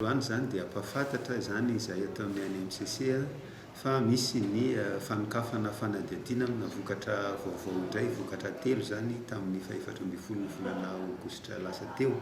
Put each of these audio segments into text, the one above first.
Androany izany dia ampahafantatra izany izahay ato amin'ny ANMCC fa misy ny fanokafana fanadihadiana amina vokatra vaovao indray, vokatra telo izany tamin'ny fahefatra ambin'ny folo ny volana aogositra lasa teo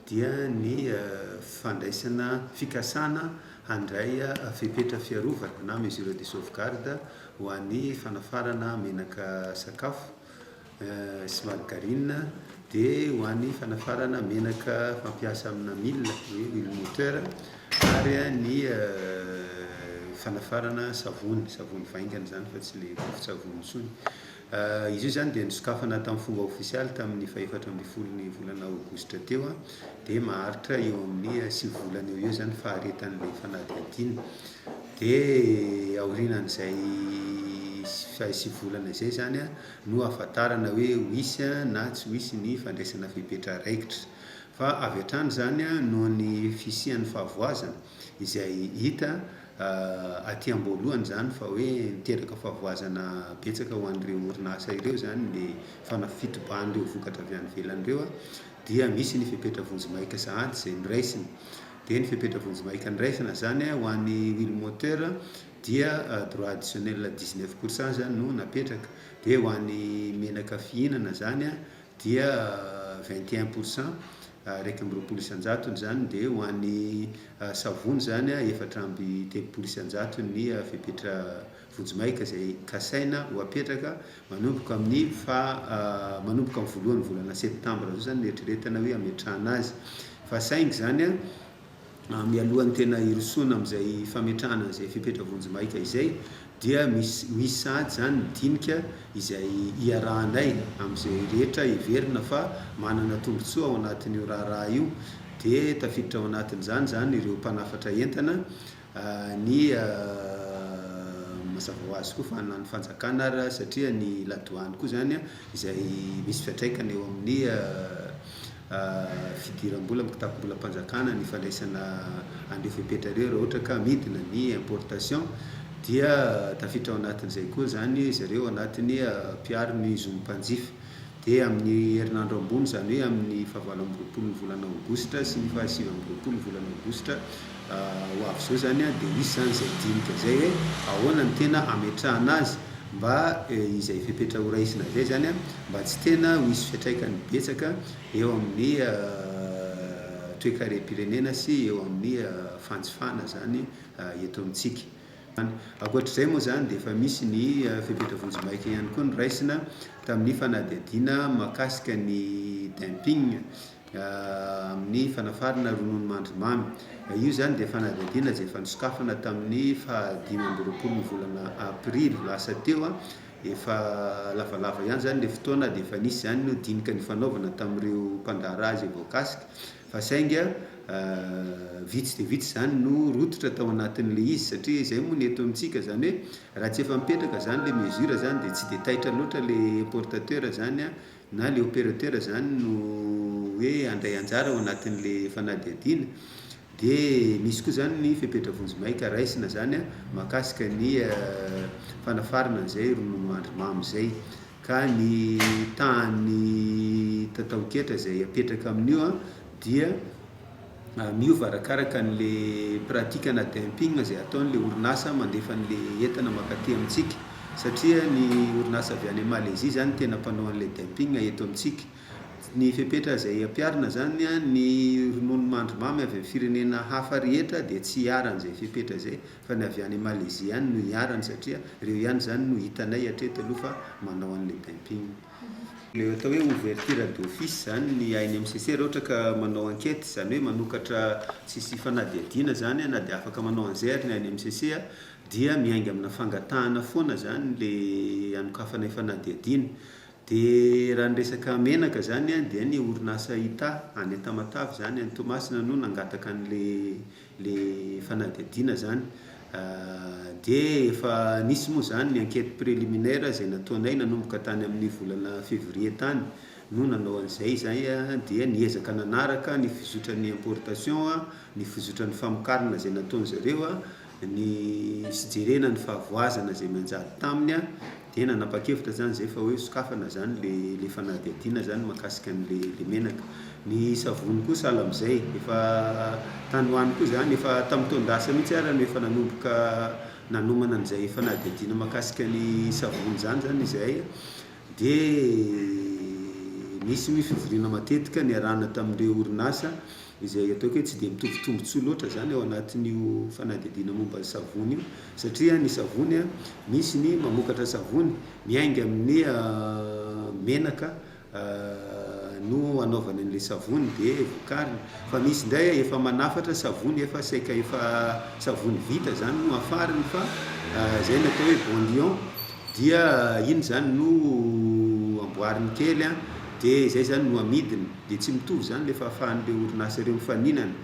dia ny fandraisana fikasana handray fepetra fiarovana na mesure de sauvegarde ho an'ny fanafarana menaka sakafo sy margarine dia ho an'ny fanafarana menaka fampiasa amina mille hoe huile moteur ary ny fanafarana savony savony vaingany zany fa tsy ilay vovon-tsavony intsony izy io zany dia nisokafana tamin'ny fomba ofisialy tamin'ny fahefatra ambin'ny folon'ny volana aogositra teo a dia maharitra eo amin'ny sivy volana eo ho eo zany faharetan'ilay fanadihadiana dia aorianan'izay sivy volana izay zany a no ahafantarana hoe wisy na tsy wisy ny fandraisana fepetra raikitra. Fa avy hatrany izany noho ny fisian'ny fahavoazana izay hita aty am-boalohany izany fa hoe niteraka fahavoazana betsaka ho an'ireo orinasa ireo izany ny fitobahan'ireo vokatra avy any ivelany ireo dia misy ny fepetra vonjimaika sahady izay noraisina. Dia ny fepetra vonjimaika noraisina izany ho an'ny wheel moteur dia droit additionnel dix neuf pour cent zany no napetraka, dia ho an'ny menaka fihinana zany dia vingt et un pour cent iraika amby roapolo isan-jatony zany, dia ho an'ny savony zany efatra amby telopolo isan-jatony ny fepetra vonjimaika izay kasaina ho apetraka manomboka amin'ny faha manomboka amin'ny voalohan'ny volana septambra zao zany no eritreretana hoe hametrahana azy fa saingy zany mialohan'ny tena hirosoana amin'izay fametrahana izay fepetra vonjimaika izay dia misy misy sahady izany ny dinika izay iarahanay amin'izay rehetra heverina fa manana tombontsoa ao anatin'io raharaha io dia tafiditra ao anatin'izany izany ireo mpanafatra entana Ny mazava ho azy koa fa na ny fanjakana ary satria ny la douane koa izany izay misy fiantraikany eo amin'ny fidiram-bola amin'ny kitapom-bolam-panjakana ny fandraisana an'ireo fepetra ireo raha ohatra ka midina ny importation dia tafiditra ao anatin'izay koa izany zareo anatin'ny mpiaro ny zon'ny mpanjifa. Dia amin'ny herinandro ambony, izany hoe amin'ny fahavalo amby roapolo ny volana aogositra sy ny fahasivy amby roapolo ny volana aogositra ho avy izao izany dia hisy izany izay dinika izay hoe ahoana no tena hametrahana azy mba izay fepetra horaisina izay izany mba tsy tena ho hisy fiantraikany betsaka eo amin'ny toekarem-pirenena sy eo amin'ny fanjifana izany eto amintsika. Ankoatr'izay moa izany dia efa misy ny fepetra vonjimaika ihany koa noraisina tamin'ny fanadihadiana mahakasika ny dumping amin'ny fanafarana rononomandry mamy. Io izany dia fanadihadiana izay efa nosokafana tamin'ny faha dimy amby roapolon'ny volana aprily lasa teo. Efa lavalava ihany izany ilay fotoana dia efa nisy izany dinika nifanaovana tamin'ireo mpandraharaha izay voakasika. fa sainga vitsy dia vitsy izany no rototra tao anatin'ilay izy satria izay moa ny eto amintsika izany hoe raha tsy efa mipetraka izany ilay mesure izany dia tsy dia taitra loatra ilay importateur izany na ilay operateur izany no hoe handray anjara ao anatin'ilay fanadihadiana dia misy koa izany ny fepetra vonjimaika raisina izany mahakasika ny fanafarana an'izay ronono andry mamy izay ka ny tahan'ny tataon-ketra izay apetraka amin'io dia miova arakaraka an'ilay pratikana dumping izay ataon'ilay orinasa mandefa an'ilay entana mankaty amintsika, satria ny orinasa avy any Malezia izany no tena mpanao an'ilay dumping eto amintsika. Ny fepetra izay ampiharina izany, ny ronono mandry mamy avy amin'ny firenena hafa rehetra dia tsy hiharan'izay fepetra izay. fa ny avy any Malaisie ihany no iharany satria reo ihany zany no hitanay hatreto aloha fa manao anle dumping. Le atao hoe ouverture d'office zany ny ainy MCC ra ohatra ka manao enquete zany hoe manokatra tsisy fanadihadiana zany na de afaka manao anzay ary ny ainy MCC dia miainga amina fangatahana foana zany le anokafanay fanadihadiana de ra ny resaka menaka zany dia ny orinasa Ita any Tamatave zany any Toamasina no nangataka anle le fanadihadiana zany de efa nisy moa zany ny enquete preliminaire zay nataonay nanomboka tany amin'ny volana fevrier tany no nanao an'izay izay dia niezaka nanaraka ny fizotran'ny importation a, ny fizotran'ny famokarana zay nataon'zareo a, ny sy jerena ny fahavoazana zay nanjary taminy a, Dia nanapa-kevitra zany zay fa hoe sokafana zany le le fanadihadiana zany mahakasika an'le le menaka. Ny savony koa sahala amzay, efa tany ho any koa zany, efa tamin'ny taon-dasa mihitsy ara no efa nanomboka nanomana an'izay fanadihadiana mahakasika ny savony zany zany izahay, dia nisy ny fivoriana matetika niarahana tamin'ireo orinasa, izay ataoko hoe tsy dia mitovy tombontsoa loatra izany ao anatin'io fanadihadiana momba ny savony io, satria ny savony misy ny mamokatra savony miainga amin'ny menaka no anaovany an'ilay savony dia vokariny, fa misy indray efa manafatra savony efa saika efa savony vita izany no afariny fa izay no atao hoe bonlion dia iny izany no amboariny kely dia izay izany no amidiny. dia tsy mitovy izany ilay fahafahan'ireo orinasa ireo mifaninana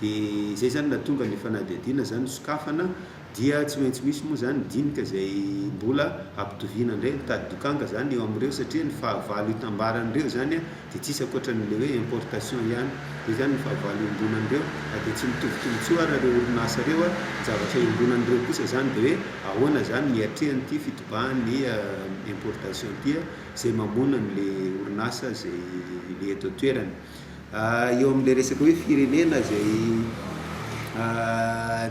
dia izay izany nahatonga ilay fanadihadiana izany nosokafana dia tsy maintsy misy moa izany dinika izay mbola hampitoviana indray mitady dokanga izany eo amin'ireo satria ny fahavalo hitambaran'ireo izany dia tsisy ankoatran'ilay hoe importation ihany dia izany ny fahavalo iombonan'ireo na dia tsy mitovy tombotsoa ary ireo orinasa ireo a ny zavatra iombonan'ireo kosa izany dia hoe ahoana izany ny hiatrehan'ity fitobahan'ny importation ity a izay mamono an'ilay orinasa izay le eto an-toerana. Eo amin'ilay resaka hoe firenena izay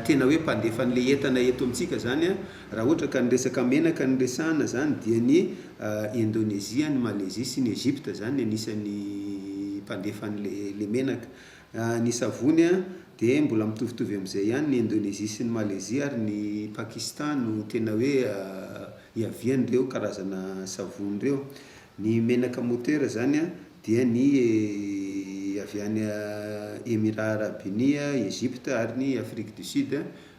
tena hoe mpandefa an'ilay entana eto amintsika izany an, raha ohatra ka ny resaka menaka no resahana izany dia ny Indonezia, ny Malezia sy ny Egypta izany no anisan'ny mpandefa an'ilay menaka. Ny savony an, dia mbola mitovitovy amin'izay ihany ny Indonezia sy ny Malezia ary ny Pakistan no tena hoe hiavian'ireo karazana savony ireo. Ny menaka motera izany dia ny avy any Emirats Arabes Unis, Egypte ary ny Afrique du Sud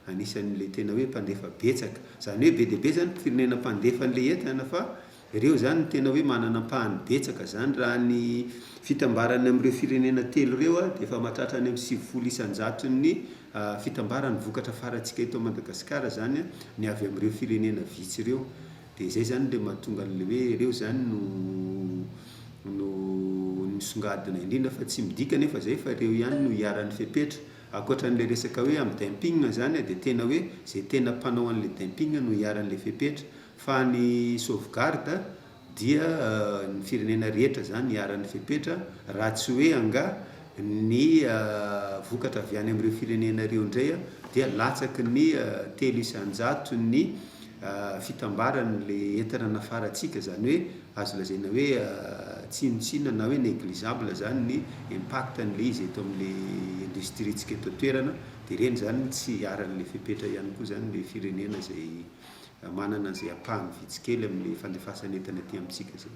anisan'ilay tena hoe mpandefa betsaka. Izany hoe be dia be izany ny firenena mpandefa an'ilay entana fa ireo izany no tena hoe manana ampahany betsaka izany. Raha ny fitambarany amin'ireo firenena telo ireo dia efa mahatratra any amin'ny sivifolo isan-jaton'ny Fitambaran'ny vokatra farantsika eto Madagasikara izany ny avy amin'ireo firenena vitsy ireo. Dia izay izany ilay mahatonga an'ilay hoe ireo izany no no nisongadina indrindra fa tsy midika anefa izay fa ireo ihany no iharan'ny fepetra. Ankoatra an'ilay resaka hoe amin'ny dumping izany dia tena hoe izay tena mpanao an'ilay dumping no iharan'ilay fepetra. Fa ny sauvegarde Dia ny firenena rehetra izany iharan'ny fepetra raha tsy hoe angaha ny vokatra avy any amin'ireo firenena ireo indray dia latsaky ny telo isan-jaton'ny fitambaran'ilay entana nafarantsika, izany hoe azo lazaina hoe tsinontsinona na hoe négligeable izany ny impact-n'ilay izy eto amin'ilay industrie-ntsika eto an-toerana, dia ireny izany no tsy iharan'ilay fepetra ihany koa izany ilay firenena izay. manana izay ampahany vitsy kely amin'ilay fandefasan'entana aty amintsika izay.